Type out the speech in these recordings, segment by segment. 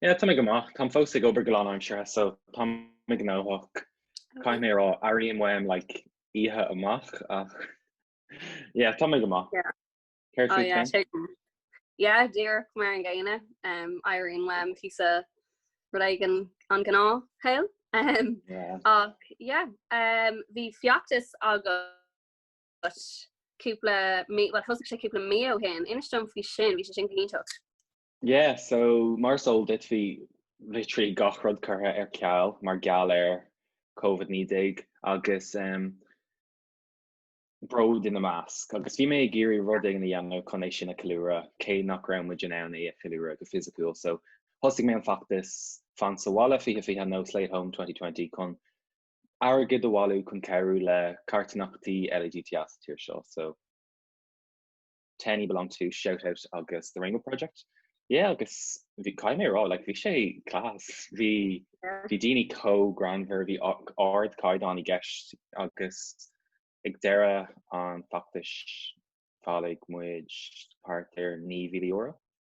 Yeah, táim go maith. Táim fós ag obair go lánaimseartha so táim gnóthach. Caithfidh mé a rá, airím uaim like oíche amach ach yeah, táim go maith. Yeah. Céard faoi yeah, cinn? Yeah, díreach mar an gcéanna. Um, airím uaim píosa rud éigin an gnáthshaol. Um, yeah. Ach, yeah, um, bhí feachtas agat cúpla mí, well, thosaigh sé cúpla mí ó shin, inis dom faoi sin, bhí sé sin go hiontach. Yeah, so mar is eol duit bhí literally gach rud curtha ar ceal mar gheall ar Covid 19 agus em bród ina measc agus bhí mé ag iarraidh rud éigin a dhéanamh chun é sin a cheiliúradh cé nach raibh muid in ann é a cheiliúradh go fisiciúil so thosaigh mé an feachtas fan sa bhaile fiche fiche nó Slay at Home 2020 chun airgead a bhailiú chun cabhrú le carthanachtaí LADT sa tír seo so TENI, BeLonG To, ShoutOut agus The Rainbow Project. Yeah agus bhí, caithfidh mé a rá, like bhí sé class. Bhí, bhí daoine chomh greannmhar, bhí ardchaighdeán i gceist agus ag deireadh an feachtais, bhailigh muid thart ar €9,000.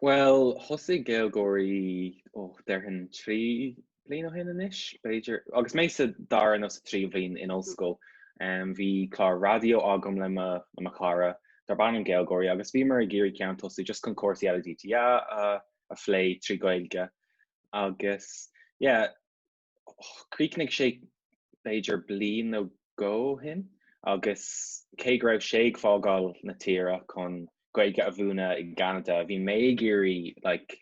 Bhuel, thosaigh Gaylgeoirí, ó, déarfainn trí bliana ó shin anois, b'fhéidir, agus mé sa dara nó sa tríú bhliain in ollscoil, bhí clár raidió agam le mo chara darb ainm Gaylgeoirí agus bhíomar ag iarraidh ceann a thosú just chun cúrsaí LADTA a phlé trí Ghaeilge agus, yeah, Chríochnaigh sé b'fhéidir bliain nó dhó ó shin agus cé go raibh sé ag fágáil na tíre chun Gaeilge a mhúineadh i gCeanada, bhí mé ag iarraidh like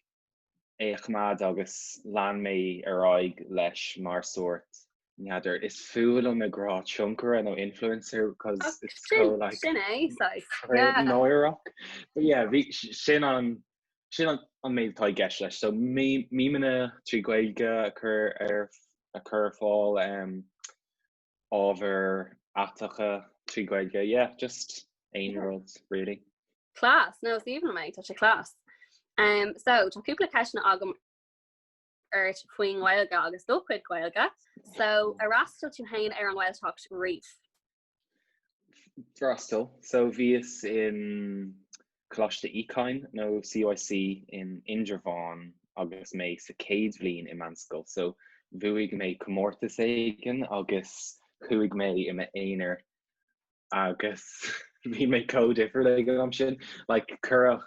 é a choimeád agus lean mé ar aghaidh leis mar sórt, n'fheadar, is fuath liom ag rá tionchaire nó influencer because it's so like, sin é, saghas, yeah, náireach, but yeah, bhí sin an. sin an méid atá i gceist leis. So mímeanna trí Ghaeilge a chur ar a chur ar fáil, ábhair aiteacha trí Ghaeilge, yeah, just aon rud really. Class, no is aoibhinn liom é, tá sé class. Um, so tá cúpla ceisteanna agam ort faoin Ghaeilge agus do chuid Gaeilge. So ar fhreastail tú féin ar an Ghaeltacht riamh? freastal. So bhíos in Coláiste Uí Chadhain nó CUC in Indreabhán agus mé sa céad bhliain i meánscoil so bhuaigh mé comórtas éigin agus chuaigh mé i m'aonar agus bhí mé chomh difriúil ag an am sin like cuireadh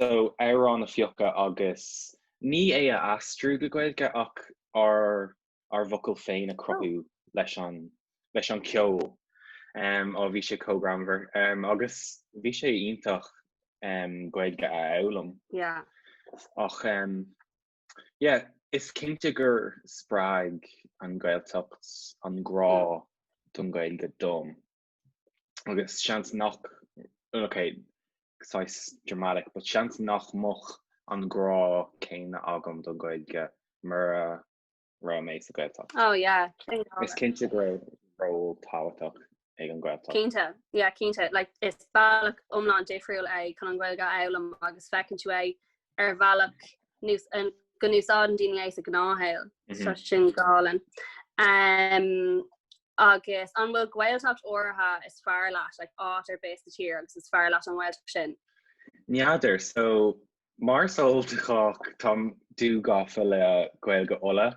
so amhráin a phiocadh agus ní é a aistriú go Gaeilge ach ár ár bhfocail féin a chruthú leis an leis an gceol. Em, á, bhí sé chomh greannmhar. Em, agus bhí sé iontach, em, Gaeilge a fhoghlaim. Yeah. Ach, em, yeah, is cinnte gur spreag an Ghaeltacht an grá don Ghaeilge dom. agus seans nach, ok, saghas dramatic, but seans nach mbeadh an grá céanna agam don Ghaeilge mura raibh mé sa Ghaeltacht. Oh yeah, sin go hálainn. Is cinnte go raibh ról tábhachtach ag an Ghaeltacht. Cinnte, yeah, cinnte. Like, is bealach iomlán difriúil é chun an Ghaeilge a fhoghlaim agus feiceann tú é ar bhealach go n-úsáideann daoine é sa ghnáthshaol, so sin go hálainn. Agus an bhfuil Gaeltacht áirithe is fearr leat, like áit ar bith sa tír agus is fearr leat an Ghaeltacht sin? N'fheadar, so mar Ultach táim dúghafa le Gaeilge Uladh.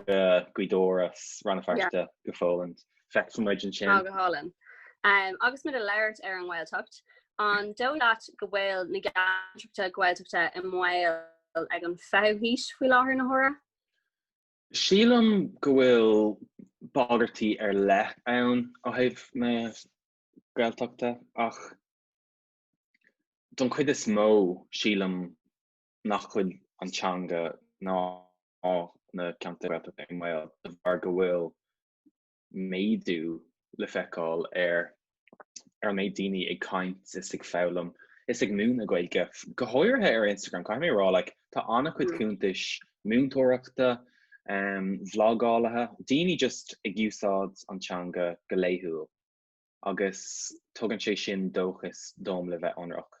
Gaoth Dobhair is Rann na Feirste go hálainn. Feicfidh muid ansin. Ná go hálainn. Agus muid ag labhairt ar an nGaeltacht, an dóigh leat go bhfuil na ceantracha Gaeltachta i mbaol san fhichiú haois faoi láthair, na huaire? Sílim go bhfuil bagairtí ar leith ann ó thaobh na Gaeltachta ach don chuid is mó sílim nach bhfuil an teanga ná na ceantair Ghaeltachta i mbaol de bharr go bhfuil méadú le feiceáil ar an méid daoine ag caint is ag foghlaim is ag múineadh Gaeilge, go háirithe ar Instagram. Caithfidh mé a rá, like, tá an-chuid cuntais múinteoireachta, vlagálaithe, daoine just ag úsáid an teanga go laethúil agus tugann sé sin dóchas dom le bheith ionraic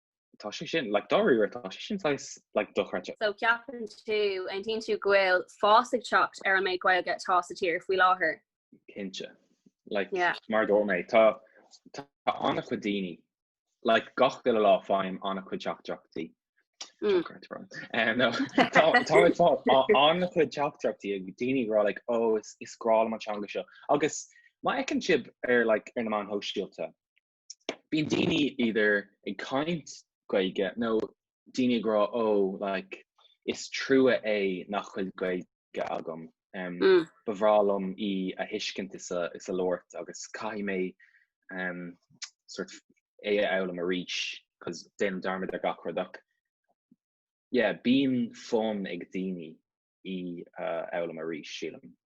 tá sé sin like dáiríre tá sé sin saghas like dochreidte. So ceapann tú, an bhfeiceann tú go bhfuil fás ag teacht ar an méid Gaeilge atá sa tír faoi láthair? Cinnte. Like Yeah. mar a dúirt mé tá tá an-chuid daoine like gach uile lá faighim an-chuid teachtaireachtaí. Mm. Teachtaireacht rom. Eh, no, tá tá ag fáil a- an-chuid teachtaireachtaí ó dhaoine ag rá like ó is is breá liom an teanga seo agus má fheiceann sibh ar like ar na meáin shóisialta bíonn daoine either ag caint Gaeilge nó daoine ag rá ó like is trua é nach bhfuil Gaeilge agam, ba bhreá liom í a thuiscint is a is a labhairt agus caithfidh mé um sort of é a fhoghlaim arís 'cause déanaim dearmad ar gach rud ach yeah bíonn fonn ag daoine í a fhoghlaim arís sílim.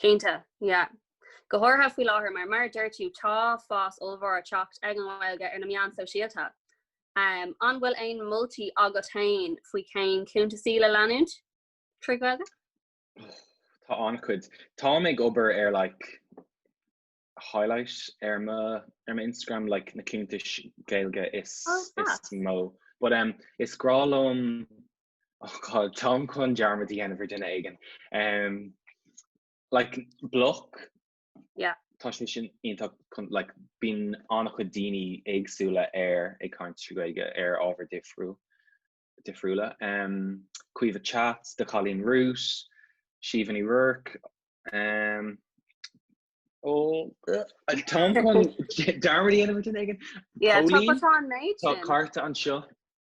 Cinnte, yeah. Go háirithe faoi láthair mar, mar a deir tú, tá fás ollmhór ag teacht ar an nGaeilge ar na meáin sóisialta. An bhfuil aon moltaí agat féin faoi cén cuntasaí le leanúint trí Ghaeilge? Tá an-chuid. Táim ag obair ar like highlight ar mo Instagram like na cuntais Gaeilge is mó. But is grá liom oh God, táim chun dearmad a dhéanamh ar duine éigin. Um, like, bloc. Yeah. Tá sé sin iontacht chun like, bíonn an-chuid daoine éagsúla air ag caint trí Gaeilge ar ábhar difriú difriúla. Um, Caoimhe Chats, do Chailín Rua, Siobhán Ní Ruairc, um, ó táim chun dearmad a dhéanamh ar duine éigin. Yeah, tá Póilín, go tá an méid Tá sin. carta anseo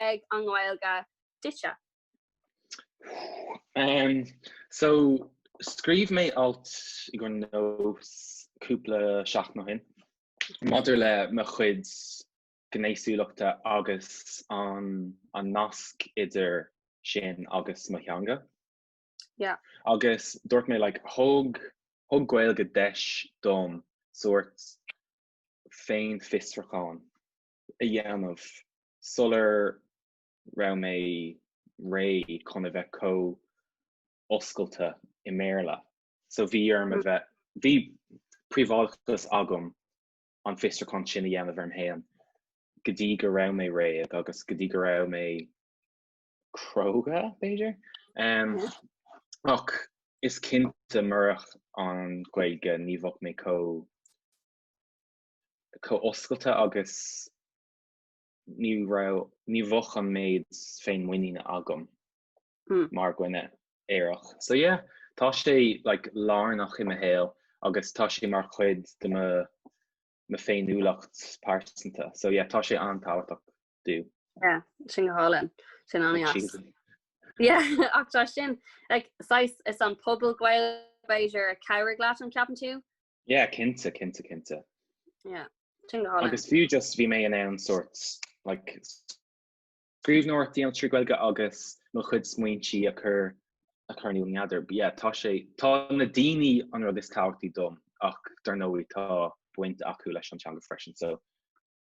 ag an nGaeilge duitse? Umm so scríobh mé alt i gcomhair Nós cúpla seachtain ó shin maidir le mo chuid gnéasúlachta agus an an nasc idir sin agus mo theanga. Yeah. Agus dúirt mé like thug thug Gaeilge deis dom sórt féinfhiosrúchán a dhéanamh sular raibh mé réidh chun a bheith chomh oscailte i mBéarla. So bhí orm a bheith, bhí príobháideachas agam an fiosrúchán sin a dhéanamh orm fhéin go dtí go raibh mé réidh agus go dtí go raibh mé cróga, b'fhéidir? Ach is cinnte murach an Ghaeilge ní bheadh mé chomh. chomh oscailte agus ní raibh, ní bheadh an méid féinmhuiníne agam mar dhuine aerach. So yeah, tá sé like lárnach i mo shaol agus tá sé mar chuid de mo mo féiniúlacht pearsanta. So yeah, tá sé an-tábhachtach dom. Yeah, sin go hálainn. Sin an-deas. Yeah, ach tá sin, like, sais is an pobal Gael b'fhéidir a chabhraigh leat an ceapann tú? Yeah, cinnte, cinnte, cinnte. Yeah, sin go hálainn. Agus fiú just bhí mé in ann sort like scríbhneoireacht a dhéanamh trí Ghaeilge agus mo chuid smaointí a chur a chur in eagar. But yeah, tá sé, tá na daoine an rud is tábhachtaí dom ach dar ndóigh tá baint acu leis an teanga freisin so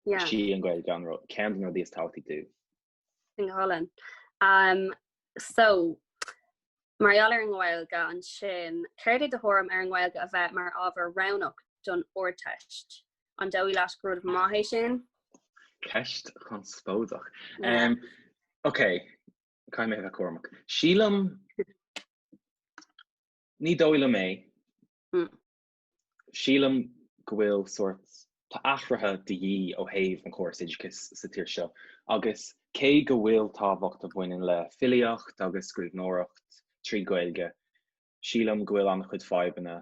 yeah, is í an Ghaeilge an rud, ceann de na rudaí is tábhachtaí dom. Sin go hálainn. Um, so, mar gheall ar an nGaeilge ansin, céard é do thuairim ar an nGaeilge a bheith mar ábhar roghnach don Ardteist? An dóigh leat gur rud maith é sin? Ceist chonspóideach. Yeah. Um, ok, caithfidh mé bheith cúramach. Sílim ní dóigh liom é. Mm. Sílim go bhfuil sórt athruithe de dhíth ó thaobh an chóras oideachais sa tír seo agus cé go bhfuil tábhacht a bhaineann le filíocht agus scríbhneoireacht trí Ghaeilge, sílim go bhfuil an-chuid fadhbanna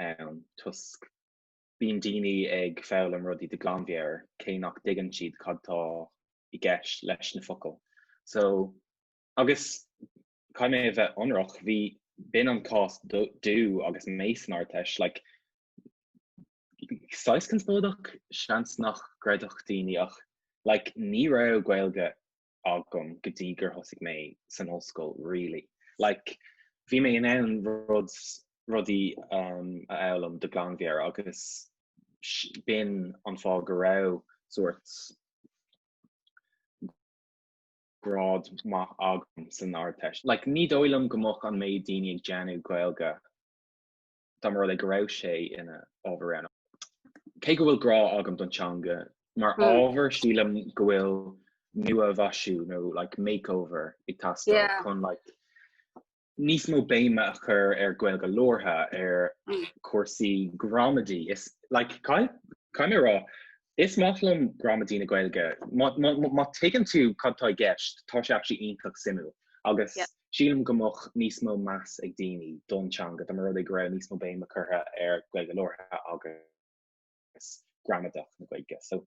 ann toisc bíonn daoine ag foghlaim rudaí de ghlanmheabhair cé nach dtuigeann siad cad tá i gceist leis na focail so agus. Caithfidh mé a bheith ionraic, bhí, b'in an cás dom agus mé san Ardteist, like saghas conspóideach, seans nach gcreidfeadh daoine ach like ní raibh Gaeilge agam go dtí gur thosaigh mé san ollscoil really. Like bhí mé in ann rud, rudaí um, a fhoghlaim de ghlanmheabhair agus b'in an fáth go raibh sórt grád maith agam san Ardteist. Like, ní dóigh liom go mbeadh an méid daoine ag déanamh Gaeilge dá mba rud é go raibh sé ina ábhar rogha. Cé go bhfuil grá agam don teanga mar ábhar, sílim go bhfuil nua-mhaisiú nó like makeover ag teastáil chun like níos mó béime a chur ar Ghaeilge labhartha ar chúrsaí gramadaí. Is, like, caithfidh, caithfidh mé a rá, is maith liom gramadaí na Gaeilge. Má, má, má tuigeann tú cad atá i gceist, tá sé actually iontach suimiúil. Agus sílim go mbeadh níos mó meas ag daoine don teanga dá mba rud é go raibh níos mó béime curtha ar Ghaeilge labhartha agus gramadach na Gaeilge. So,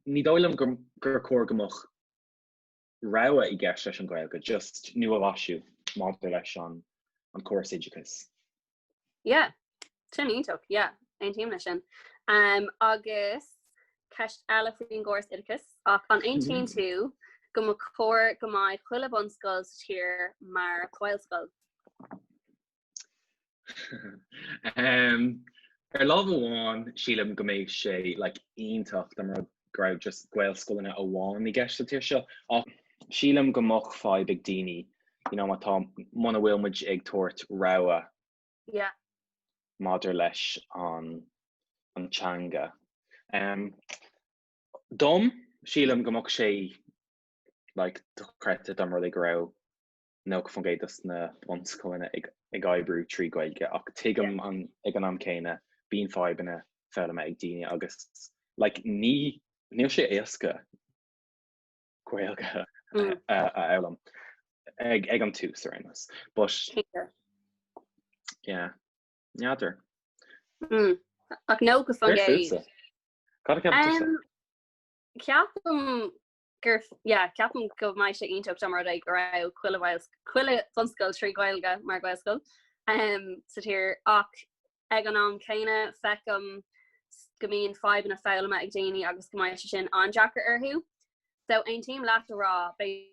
ní dóigh liom gur, gur chóir go mbeadh. rogha i gceist leis an Ghaeilge, just nua-mhaisiú maidir leis an córas oideachais. Yeah. Sin iontach, yeah. Aontaím leis sin. Um, agus ceist eile faoin gcóras oideachais, ach an aontaíonn mhm. tú go mba chóir go mbeadh chuile bunscoil sa tír mar Ghaelscoil? Ar lámh amháin sílim go mbeadh sé like iontach dá mba rud go raibh just Gaelscoileanna amháin i gceist sa tír seo ach sílim go mbeadh fadhb ag daoine muna bhfuil muid ag tabhairt rogha maidir leis an teanga. Dom, sílim go mbeadh sé like dochreidte dá mba rud é go raibh 90% dos na bunscoileanna ag oibriú trí Ghaeilge ach tuigim an ag an am céanna bíonn fadhbanna foghlama ag daoine agus like ní níl sé éasca Gaeilge a fhoghlaim ag ag an tús ar aon nós but. yeah n'fheadar. Mm ach 90% Cad a cheapann tú? Ceapaim gur yeah, ceapaim go mbeadh sé iontach dá mba rud é go raibh chuile chuile bhunscoil trí Ghaeilge mar Ghaelscoil um, sa tír ach ag an am céanna feicim go mbíonn fadhbanna foghlama ag daoine agus go mbeadh sé sin an-deacair orthu. So aontaím leat a rá beidh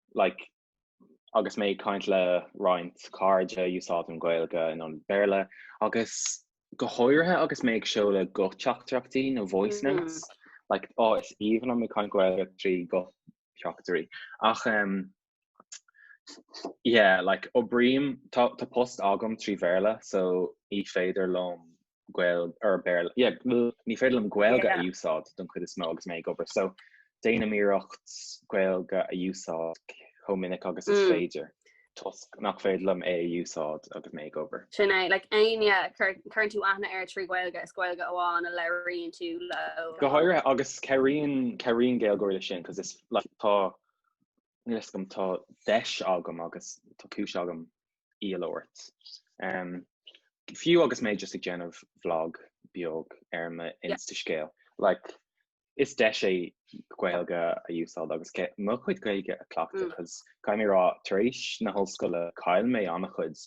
like agus mé ag caint le roinnt cairde úsáidim Gaeilge in ionad Béarla agus go háirithe agus mé ag seoladh guth-theachtaireachtaí nó voice mm-hmm. notes mm. like á oh, is aoibhinn liom ag caint Gaeilge trí guth-theachtairí ach um, yeah like oibrím tá post agam trí Bhéarla so ní féidir liom Gaeil- er Béarla. Yeah, ní féidir liom Gaeilge a úsáid don chuid is mó agus mé ag obair, so déanaim iarracht Gaeilge a úsáid chomh minic agus is féidir toisc nach féidir liom é a úsáid agus mé ag obair. Sin é, like éinne a chuireann tú aithne air trí Ghaeilge, is Gaeilge amháin a labhraíonn tú leo. Go háirithe, agus cabhraíonn cabhraíonn Gaylgeoirí leis sin 'cause is like tá Níl fhios agam, tá deis agam agus tá cúis agam í a labhairt. Fiú agus mé just ag déanamh vlog beag ar m'Instascéal, like, is deis é Gaeilge a úsáid agus mo chuid Gaeilge a chleachtadh because caithfidh mé a rá, tar éis na hollscoile chaill mé an-chuid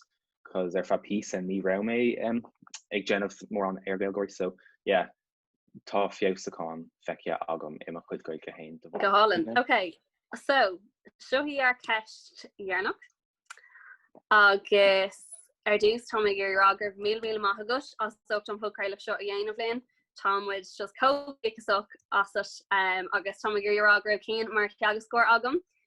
because ar feadh píosa ní raibh mé ag déanamh mórán ar Ghaylgeoirí so yeah, tá feabhsúcháin feicthe agam i mo chuid Gaeilge féin de bharr. Go hálainn. Ok, so seo í ár ceist dheireanach agus ar dtús táim ag iarraidh a rá go raibh míle míle maith agat as ucht an podchraoladh seo a dhéanamh linn. Tá muid just chomh buíoch asat agus táim ag iarraidh a rá go raibh Cian mar theagascóir agam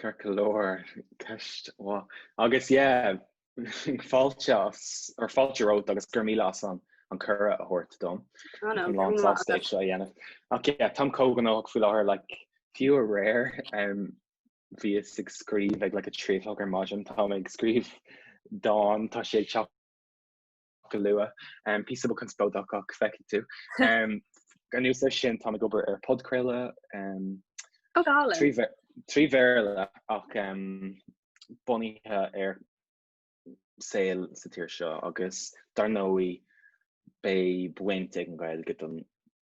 Ceart go leor, ceist mhaith. Agus yeah, fáilte as, or fáilte romhat agus go raibh míle as an an cuireadh a thabhairt dom. Tá mé lánsásta é seo a dhéanamh. Ach yeah, táim chomh gnóthach faoi láthair, like, fiú aréir, um, bhíos ag scríobh ag like a trí a chlog ar maidin, táim ag scríobh dán, tá sé ag teacht, go luath. Píosa beag conspóideach ach feicfidh tú. Anuas air sin tá mé ag obair ar podchraoladh trí Bhéarla ach bunaithe ar saol sa tír seo agus dar ndóigh beidh baint ag an Ghaeilge don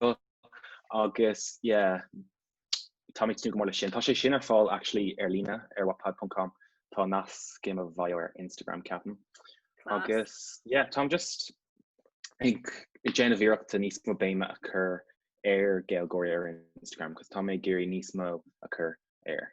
seo agus yeah táim ag tnúth go mór le sin. Tá sé sin ar fáil actually ar líne ar wattpad.com. Tá nasc i mo bhio ar Instagram ceapaim. Agus yeah táim just ag ag déanamh iarrachta níos mó béime a cur ar Ghaeilgeoirí ar Instagram cos tá mé ag iarraidh níos mó a chur air.